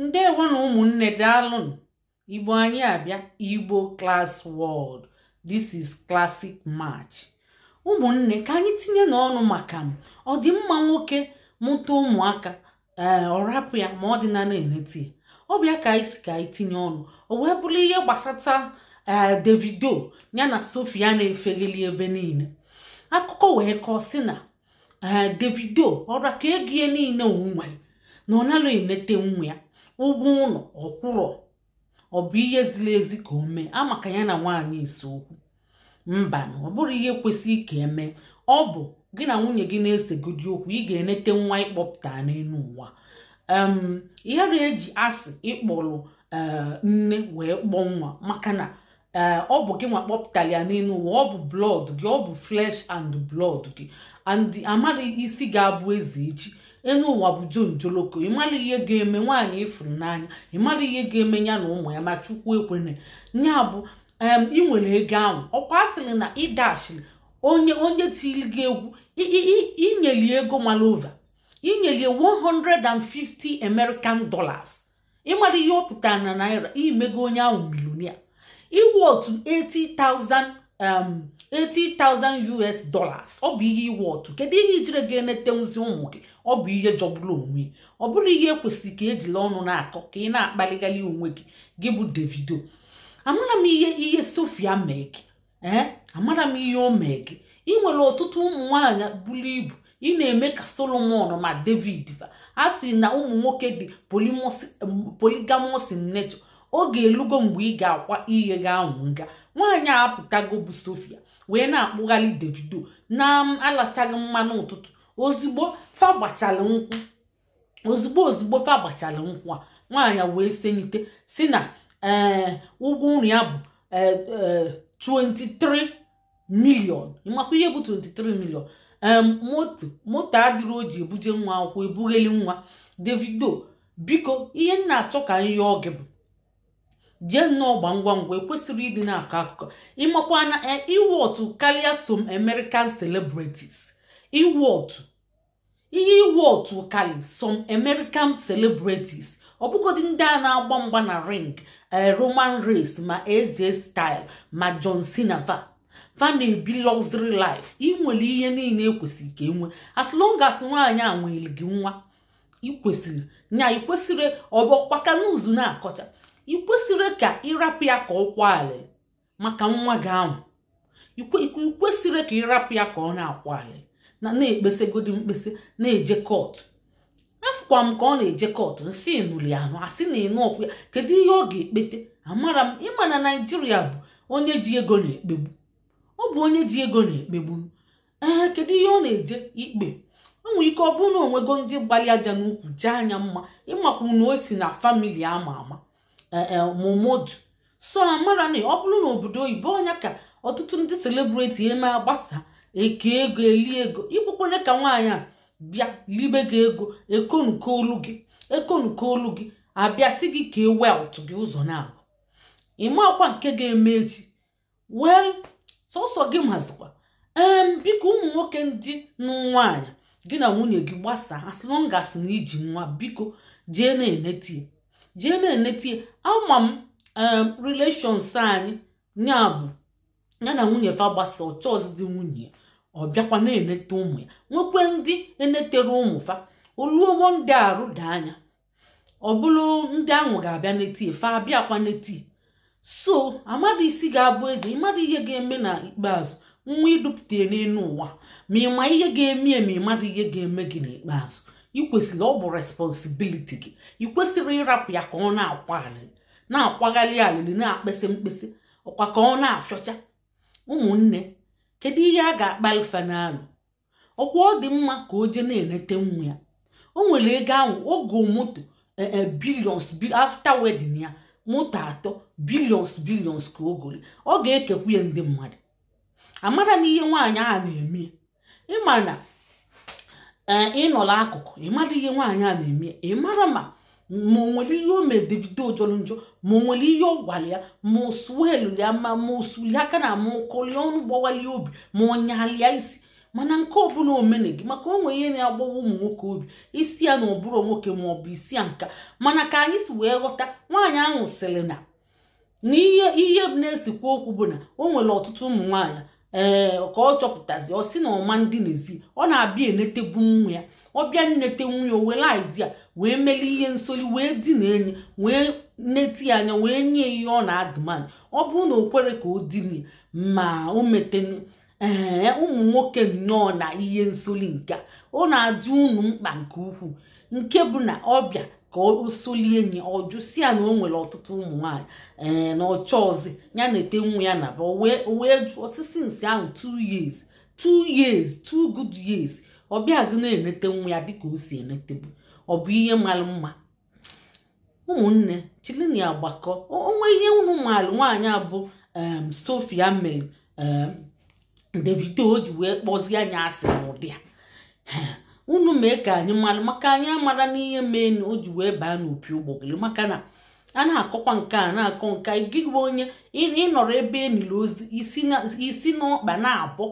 ndewo na ụmụnne daalụnụ igbo anyị abịa igbo class world this is classic match ụmụnne ka anyị tinyenụ ọnụ maka ma ọ dị mma nwoke mụta ụmụaka ee eh, ọ rapụ ya ma ọ dị na na-enete ya ọ bụ ya ka anyị si ka anyị tinye ọnụ o wee bụrụ ihe gbasata ee eh, davido ya na sofia na-efegheli ebe niile akụkọ wee kọọ sị na ee davido ọ ra ka ego ya niile o nwere na ọ narọ enete nwa ya ụgwọ ụlọ ọ kwụrọ ọ bụ ihe ziri ezi ka o mee maka ya na nwaanyị ise okwu mbanụ ọ bụrọ ihe kwesịrị ka e mee ọ bụ gị na nwunye gị na-esegodi okwu ị ga-enete nwa ị kpọpụta n'elu ụwa em a narọ eji asị ị kpọrọ ee nne wee kpọọ nwa maka na ee ọ bụ gị nwa kpọpụtara ya n'elu ụwa ọ bụ blood gị ọ bụ flesh and blood gị and amaghị isi ga-abụ eze echi enu ụwa bụ jonjoloko ị mara ihe ga-eme nwaanyị ị fụrụ n'anya ị mara ihe ga-eme ya na ụmụ ya ma chukwu ekwena nya bụ em ị nwere ego ahụ ọ kwa a sịrị na ị dashiri onye onye tiri gị egwu i- i- i- i nyeli ya ego malova i nyeli ya 150 american dollars ị mara ihe ọ pụtara na naira i mego onye ahụ millionaire ị worth 80,000 um, 80,000 US dollars ọ bụ ihe ị worth kedu ihe i jire ga-enetenwuzi ụmụ gị ọ bụ ihe jọgburu onwe ya. ọ bụrọ ihe kwesịrị ka ejila ọnụ na-akọ ka ị na-akpaligali onwe gị gị bụ Davido amara m ihe ihe Sofia mee gị ee amara m ihe o mee gị ị nwere ọtụtụ ụmụ nwaanyị buru ibu ị na-eme ka solomon ma david fa a sị na ụmụ nwoke dị polygamous in nature oge elugo mgbe ị ga-akwa ihe gị ahụ nga nwaanyị a apụtago bụ sofia wee na-akpụgharị davido na alachaghị mmanụ ụtụtụ ozugbo fa gbachara nkwụ ozugbo ozugbo fa gbachara nkwụ a nwaanyị wee senite sị na ee eh, ụgwọ nri ya bụ 23 eh, eh, million ị makwa ihe bụ 23 million moto moto adịrọ o ji ebuje nwa akwụkwọ ebugheli nwa davido biko ihe m na-achọ ka anyị yọọ gị bụ jee nnọọ gba ngwa ngwa e kwesịrọ ịdị na-akọ akụkọ ị makwa na ị worth karịa some American celebrities ị worth ihe ị worth kalị some American celebrities ọ bụgodị ndị a na-agba mgba na ring eh, Roman Reigns ma AJ style ma John Cena fa fa na-ebi luxury life ị nwere ihe niile e kwesịrị ka e nwee as long as nwaanyị a nweere gị nwa i kwesịrị nya i kwesịrị ọbọkwa ka n'uzu na-akọcha i kwesịrọ ka ị rapụ ya ka ọ kwalị maka nwa gị ahụ ikwesịrị ka ịrapụ ya ka ọ na-akwa alịlị na-ekpesegodi mkpesa na-eje kọtụ afụkwa m ka ọ na-eje kọtụ nsị nụli ahụ asị na ịnụ ọkụ ya kedu ihe ọ ga-ekpete amara m ịma na naijiria bụ onye ji ego na-ekpegbu ọ bụ onye ji ego na-ekpegbu ee kedu ihe ọ na-eje ikpe o nwere ike ọ bụrụ na onwego ndị gbalị aja n'ukwu jee anya mma ịmakwu na o si na famili ama ama eh, eh, momodu so amara na ọ bụrụ na obodo oyibo ọ nya ka ọtụtụ ndị selebriti eme agbasa eke ego eli ego ịbụkwanye ka nwaanyị a bịa libe gị ego ekonuko olu gị ekonuko olu gị abịa sị gị kee wealth gị ụzọ naabọ ịmakwa nke ga-eme echi wel sọsọ gị mazikwa ee biko ụmụ nwoke ndị nụ nwaanyị gị na nwunye gị gbasaa as long as na iji nwa biko jee na-enetie jee na-enetie ama m relations anyị ya bụ ya na nwunye fa gbasa ọ chọọzị di nwunye ọ bịakwa na-enete ụmụ ya nwekwe ndị enetere ụmụ fa o luo one day arụ daa nya ọ bụrụ ndị ahụ ga-abịa netie fa abịakwa netie so amadụ isi ga-abụ echi ịmadụ ihe ga-eme na ikpeazụ nwa idupụta ya n'elu ụwa ma ịma ihe ga-eme ya ma ịmadụ ihe ga-eme gị n'ikpeazụ ikwesịrị ọ bụ responsibiliti gị ikwesịrị ịrapụ ya ka ọ na-akwa alịrị na-akwagharị alịrị na-ekpese mkpese ọkwa ka ọ na-afịọcha ụmụnne kedu ihe a ga-akpali fanalụ ọkwa ọ dị mma ka o jee na-eneta nwa ya o nwere ego ahụ o go moto e, e, billions after wedding ya moto atọ billions billions ka o gori ọ ga-ekekwu ya ndị mmadụ amara na ihe nwaanyị a na-eme ịma na e, ịnọla akụkụ ịmara ihe nwaanyị a na-eme ịmara ma ma o nwere ihe o mere davido jọrọ njọ ma o nwere ihe ọ gwara ya ma o suelu ya ma ma o suli aka ana ma o kọlie ọnụ gbawa ya obi ma ọ nyalụ ya isi mana nke ọbụla o mene gị maka o nwere ihe na-agbawa ụmụ nwoke obi ị sị ya na ọ bụrọ nwoke ma ọ bụ ị sị ya nka mana ka anyị si wee ghọta nwaanyị ahụ sịrị na na ihe ihe na-esekwa okwu bụ na o nwere ọtụtụ ụmụ nwaanyị ee eh, ka ọ chọpụtazi ọ sị na ọ ma ndinezi ọ na-abịa enetebu nwa ya ọ bịa nete nwa ya were idea wee meli ihe nsoli wee dị na enyi wee nete ya anya wee nye ihe ọ na-ademand ọ bụrụ na o kwere ka o dinie ma o mete ee ụmụ nwoke nnọọ na ihe nsoli nke a ọ na-adị unu mkpa nke ukwuu nke bụ na ọ bịa ka o solie enyi ọ jụ sị ya na o nwere ọtụtụ ụmụ nwaanyị ee na ọ chọọzị ya nete nwa ya naba o wee o wee jụ ọ sị since ahụ two years two years two good years ọ bịazi na-enete nwa ya dịka o si enetebu ọ bụ ihe mara mma ụmụnne chilini agbakọ o nwee ihe unu maalụ nwaanyị a bụ um, Sophia mere Davido o ji wee kpọzie ya asị n'ụdị a unu mee ka anyị mara maka anyị amara n'ihe mee na o ji wee baa n'opi ụgbọgụrụ maka na a na-akọkwa nke a na-akọ nke gị bụ onye ị nọrọ ebe niile ozi isi n'ọkpa naabọ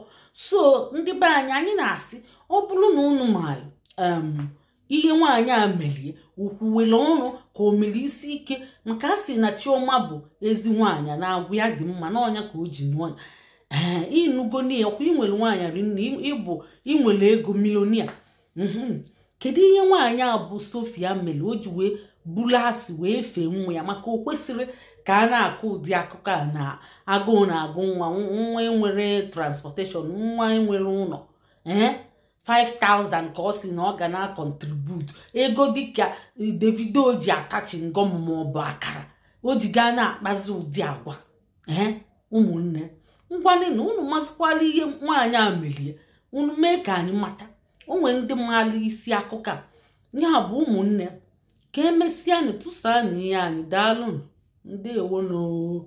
so ndị be anyị anyị na-asị ọ bụrụ na unu maara um, ihe nwaanyị a mere ya o kwuwere ọnụ ka o mere isi ike maka a sị na Chioma bụ ezi nwaanyị na agwa ya dị mma na ọ ya ka o ji nụọ ya ee ị nụgo na ya ọ kwa i nwere nwaanyị rinne ị bụ i nwere ego millionaire mhm. kedu ihe nwaanyị a bụ Sophia mere o ji wee buru asị wee fee nwa ya maka o kwesịrị ka a na-akọ ụdị akụkọ a na agụụ na-agụ nwa nwa enwerọ transportation nwa enwerọ ụlọ ee 5000 ka ọ sị na ọ ga na-acontribute ego dịka Davido ji ata chewing gum ma ọ bụ akara o ji gaa na-akpazi ụdị agwa ee ụmụnne ngwanụ na unu masịkwala ihe nwaanyị a mere ya unu mee ka anyị mata o nwere ndị maalụ isi akụkọ a ya bụ ụmụnne ka emesịa anyị tụsaa na ihe anyị daalụ ndewonụ o